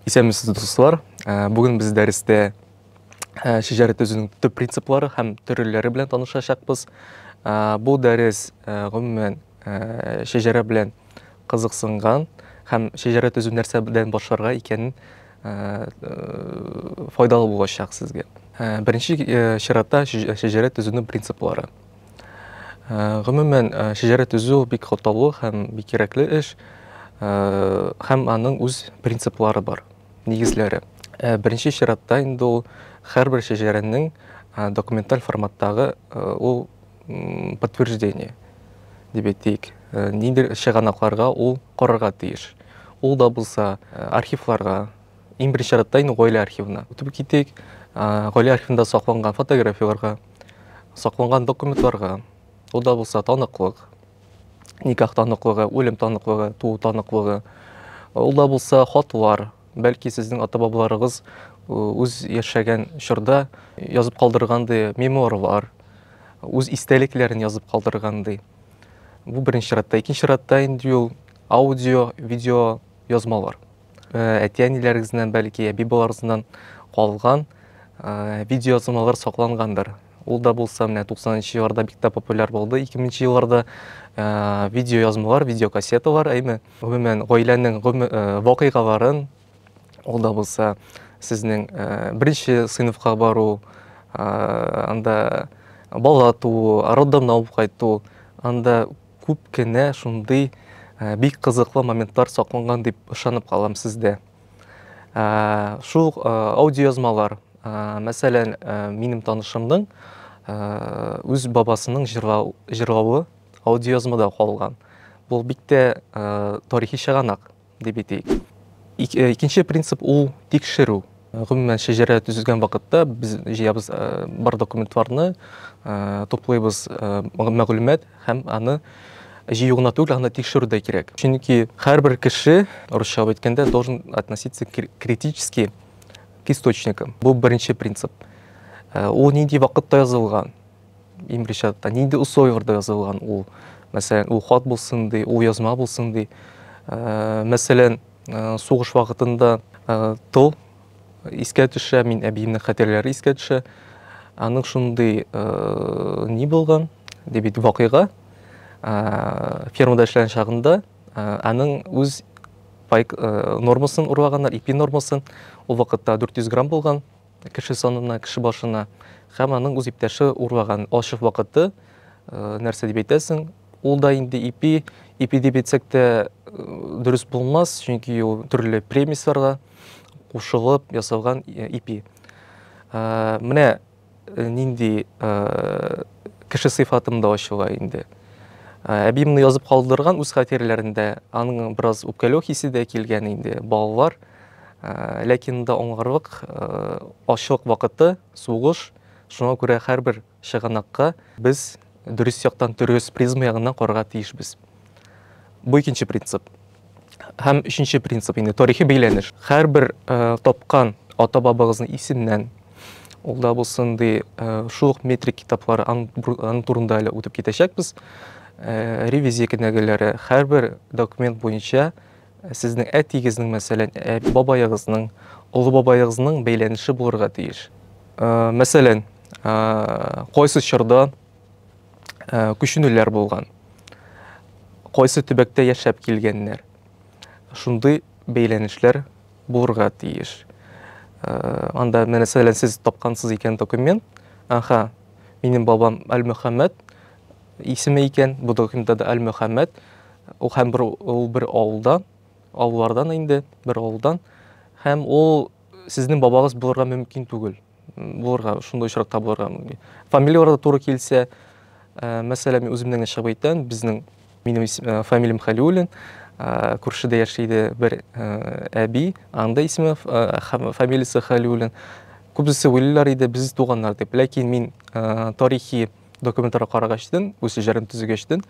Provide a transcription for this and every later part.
Исәнмесез, дуслар! Ә, Бүген без дәрестә ә, шәҗәрә төзүнең төп принциплары һәм төрләре белән танышачакбыз. Ә, Бу дәрес ә, гомумән ә, шәҗәрә белән кызыксынган һәм шәҗәрә төзү нәрсәдән башларга икәнен ә, э, файдалы булачак сезгә. Ә, Беренче э, чиратта шәҗ- шәҗәрә төзүнең принциплары. Гомумән, шәҗәрә төзү бик катлаулы һәм бик кирәкле эш. Һәм аның үз принциплары бар, нигезләре. Беренче чиратта инде ул һәрбер шәҗәрәнең документаль форматтагы ул подтверждение дип әйтик, нидер чыганакларга ул карарга тиеш. Ул да булса архивларга, иң беренче чиратта инде гаилә архивына. Үтеп китик, гаилә архивында сакланган фотографияләргә. Сакланган документларга, ул да булса таныклык, никах таныклыгы, үлем таныклыгы, туу таныклыгы, ул да булса хатлар, бәлки сезнең ата-бабаларыгыз үз яшәгән чорда язып калдыргандый мемуарлар, үз истәлекләрен язып калдыргандый. Бу беренче чиратта. Икенче чиратта инде ул аудио, видео язмалар. Э, әти-әниләрегезнән, бәлки, әби-баларыгыздан калган э, видеоязмалар саклангандыр. Ул да булса, менә 90-нчы елларда бик тә популяр булды. 2000-нче елларда э, видеоязмалар, видеокассеталар, әйме, гомумән, гаиләнең вакыйгаларын, ул да булса, сезнең беренче сыйныфка бару, анда бала туу, роддомнан алып кайту, анда Күп кенә шундый бик кызыклы моментлар сакланган дип ышанып калам сездә. Шул аудиоязмалар, мәсәлән, минем танышымның үз бабасының җырлавы аудиоязмада калган. Бу бик тә тарихи чыганак. дип әйтик. Э, икенче принцип ул тикшерү. Э, гомумән шәҗәрә төзелгән вакытта без җыябыз э, бар документларны, туплыйбыз мәгълүмат һәм аны җыю гына түгел, аны тикшерү дә кирәк. Чөнки һәрбер кеше, русча әйткәндә, должен относиться критически к источникам. Бу беренче принцип. Ул нинди вакытта язылган? Имричатта нинди условияләрдә язылган ул? Мәсәлән, ул хат булсын ди, ул язма булсын ди. Э, мәсәлән, э, сугыш вакытында э, тыл искә төшә, мин әбиемнең хәтерләре искә төшә. Аның шундый ни булган, ди бит вакыйга. Фермада эшләгән чагында аның үз пайк нормасын урлаганнар, ипи нормасын. Ул вакытта 400 грамм булган. Кеше санына, кеше башына һәм аның үз иптәше урлаган ачык вакыты, нәрсә дип әйтәсең, ул да инде ипи, ипи дип әйтсәк тә дөрес булмас, чөнки ул төрле премисларга кушылып ясалган ипи. Менә нинди кеше сыйфатымда ачыла инде. Әби моны язып калдырган үз хатирәләрендә, аның бераз үпкәләү хисе дә килгән инде, балалар, Ләкин монда аңларлык ачлык вакыты, сугыш, шуңа күрә һәрбер чыганакка без дөрес яктан, дөрес призма ягыннан карарга тиешбез. Бу икенче принцип. Һәм өченче принцип инде тарихи бәйләнеш. Һәрбер тапкан ата бабагызның исеменнән ул да булсын ди шул ук метрик китаплары аның турында әле үтеп китәчәкбез. Ревизия кенәгәләре һәрбер документ буенча Ә сезнең әтиегезнең, мәсәлән, бабаегызның, олы бабаегызның бәйләнеше булырга тиеш. Мәсәлән, кайсы чорда күченүләр булган, кайсы төбәктә яшәп килгәннәр. Шундый бәйләнешләр булырга тиеш. Анда, мәсәлән, сез тапкансыз икән документ, аха, минем бабам Әлмөхәммәт, Исеме икән, бу документта да Әлмөхәммәт. Ул һәм бер ул бер авылдан, авыллардан инде, бер авылдан. Һәм ул сезнең бабагыз булырга мөмкин түгел. Булырга, шундый очракта булырга мөмкин. Фамилияләр дә туры килсә, э, мәсәлән, мин үземнең генә чыгып әйтәм, безнең минем ис- э, фамилиям Хәлиуллин, э, күршедә яши иде бер э, әби, аның да исеме, ф- э, һәм фамилиясе Хәлиуллин. Күбесе уйлыйлар иде, без туганнар дип. Ләкин мин э, тарихи Документларга карагачтын, үз җырын төзегәчтын,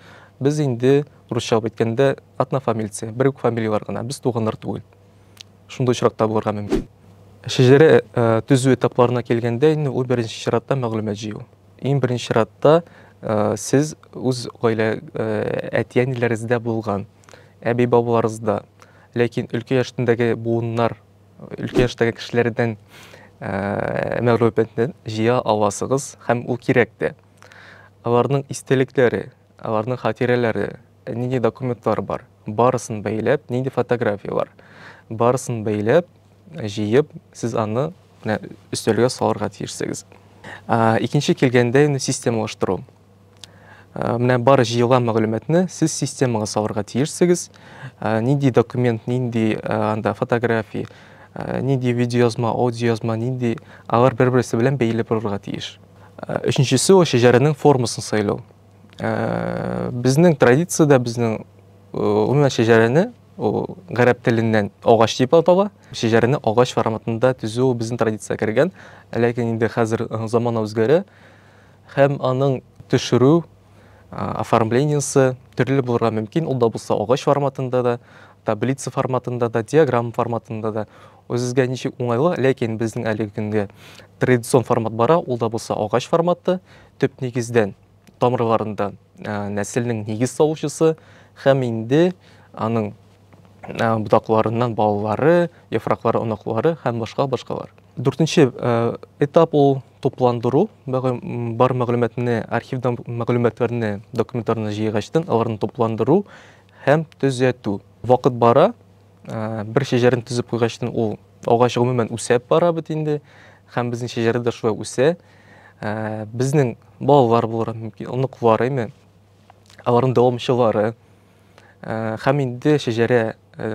без инде русча алып әйткәндә однофамильцы, бер үк фамилияләр генә, без туганнар түгел. Шундый очракта булырга мөмкин. Шәҗәрә төзү этапларына килгәндә инде ул беренче чиратта мәгълүмат җыю. Иң беренче чиратта сез үз гаилә әти-әниләрегездә булган, әби-бабаларыгызда, ләкин өлкә яшендәге буыннар өлкән яшьтәге кешеләрдән мәгълүматны җыя аласыгыз һәм ул кирәк тә. Аларның истәлекләре, аларның хатирәләре, нинди документлар бар, барысын бәйләп, нинди фотографиялар, барысын бәйләп, җыеп, сез аны өстәлгә салырга тиешсегез. Икенче килгәндә инде системалаштыру. Менә бар җыелган мәгълүматны сез системага салырга тиешсегез. Нинди документ, нинди анда фотография, нинди видеоязма, аудиоязма, нинди алар бер-берсе белән бәйле булырга тиеш. Өченчесе ул шәҗәрәнең формасын сайлау. Безнең традициядә безнең гомумән шәҗәрәне ул гарәп теленнән агач дип атала. Шәҗәрәне агач форматында төзү безнең традициягә кергән. Ләкин инде хәзер замана үзгәрә. Һәм аның төшерү оформлениесе төрле булырга мөмкин, ул да булса агач форматында да, таблица форматында да, диаграмма форматында да. Үзегезгә ничек уңайлы, ләкин безнең әлеге көнгә традицион формат бара, ул да булса агач форматы, төп нигездән, тамырларында нәселнең нигез салучысы һәм инде аның ботакларыннан балалары, яфраклары, оныклары һәм башка башкалар. Дүртенче этап ул тупландыру, бар мәгълүматны, архивдан мәгълүматларны, документларны җыйгачтан аларны тупландыру һәм төзәтү. Вакыт бара, бер шәҗәрәне төзеп куйгачтан ул агач гомумән үсәп бара бит инде һәм безнең шәҗәрә дә шулай үсә. Безнең балалар булыр мөмкин, оныклар, әйме, аларның дәвамчылары. Һәм инде шәҗәрә,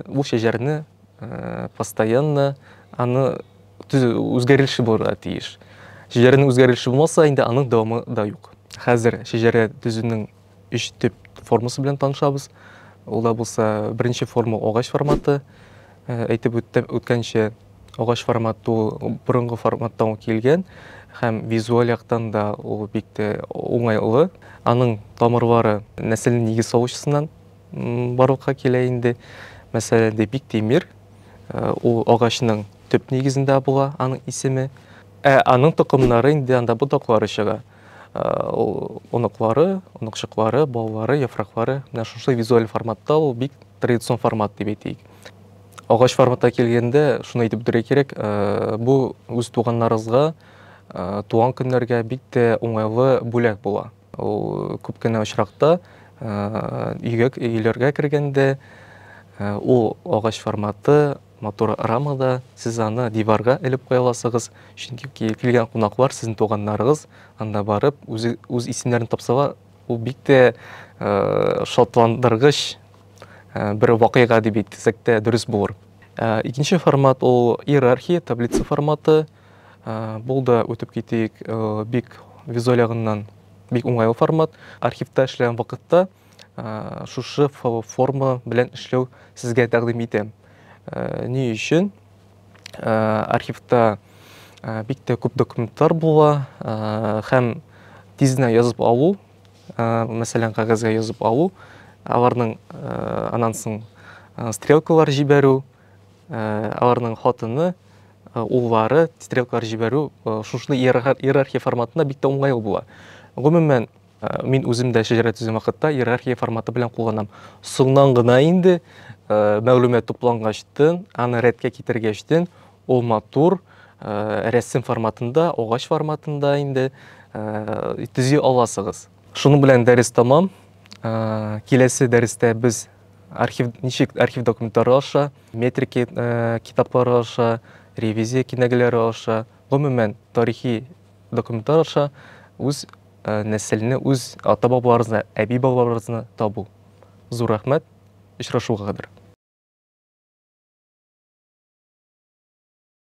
ул шәҗәрне постоянно аны үзгәрелеше булырга тиеш. Шәҗәрәнең үзгәрелеше булмаса, инде аның дәвамы да юк. Хәзер шәҗәрә төзүнең өч төп формасы белән танышабыз. Ул да булса, беренче форма агач форматы. Әйтеп үткәнчә, агач форматы ул борынгы форматтан килгән һәм визуаль яктан да ул бик тә уңайлы. Аның тамырлары нәсел нигез салучысыннан барлыкка килә инде. Мәсәлән, Депик Тимир, э, ул агачның төп нигезендә була аның исеме. Ә аның токымнары инде анда ботаклары чыга. Э, ул оныклары, оныкчыклары, балалары, яфраклары менә шушы визуаль форматта ул бик традицион формат дип әйтик. Агач форматка килгәндә, шуны әйтеп үтәргә кирәк, бу үз туганнарыгызга туган көннәргә бик тә уңайлы бүләк була. Ул күп кенә очракта өйгә өйләргә кергәндә ул агач форматы матур рамада сез аны диварга элеп куя аласыгыз, чөнки килгән кунаклар, сезнең туганнарыгыз анда барып үз исемнәрен тапсалар, Ул бик тә шатландыргыч бер вакыйга дип әйтсәк тә дөрес булыр. Икенче формат ул иерархия, таблица форматы. Бул да үтеп китик, бик визуаль ягыннан бик уңайлы формат. Архивта эшләгән вакытта шушы форма белән эшләү сезгә тәкъдим итәм. Ни өчен? архивта бик тә күп документлар була һәм тизенә язып алу мәсәлән кәгазьгә язып алу аларның аннан соң стрелкалар җибәрү аларның хатыны уллары стрелкалар җибәрү шушы иерархия форматында бик тә уңайлы була гомумән Мин үзем дә шәҗәрә төзем вакытта иерархия форматы белән кулланам. Соңнан гына инде мәгълүмат туплангачтын, аны рәткә китергәчтен, ул матур рәсем форматында, агач форматында инде төзи аласыгыз. Шуның белән дәрес тәмам. Киләсе дәрестә без архив ничек архив документлары аша, метрики китаплары аша, ревизия кинәгәләре аша, гомумән тарихи Документлар аша үз нәселне, үз ата-бабаларыбызны, әби-бабаларыбызны табу. Зур рәхмәт, очрашуга кадәр.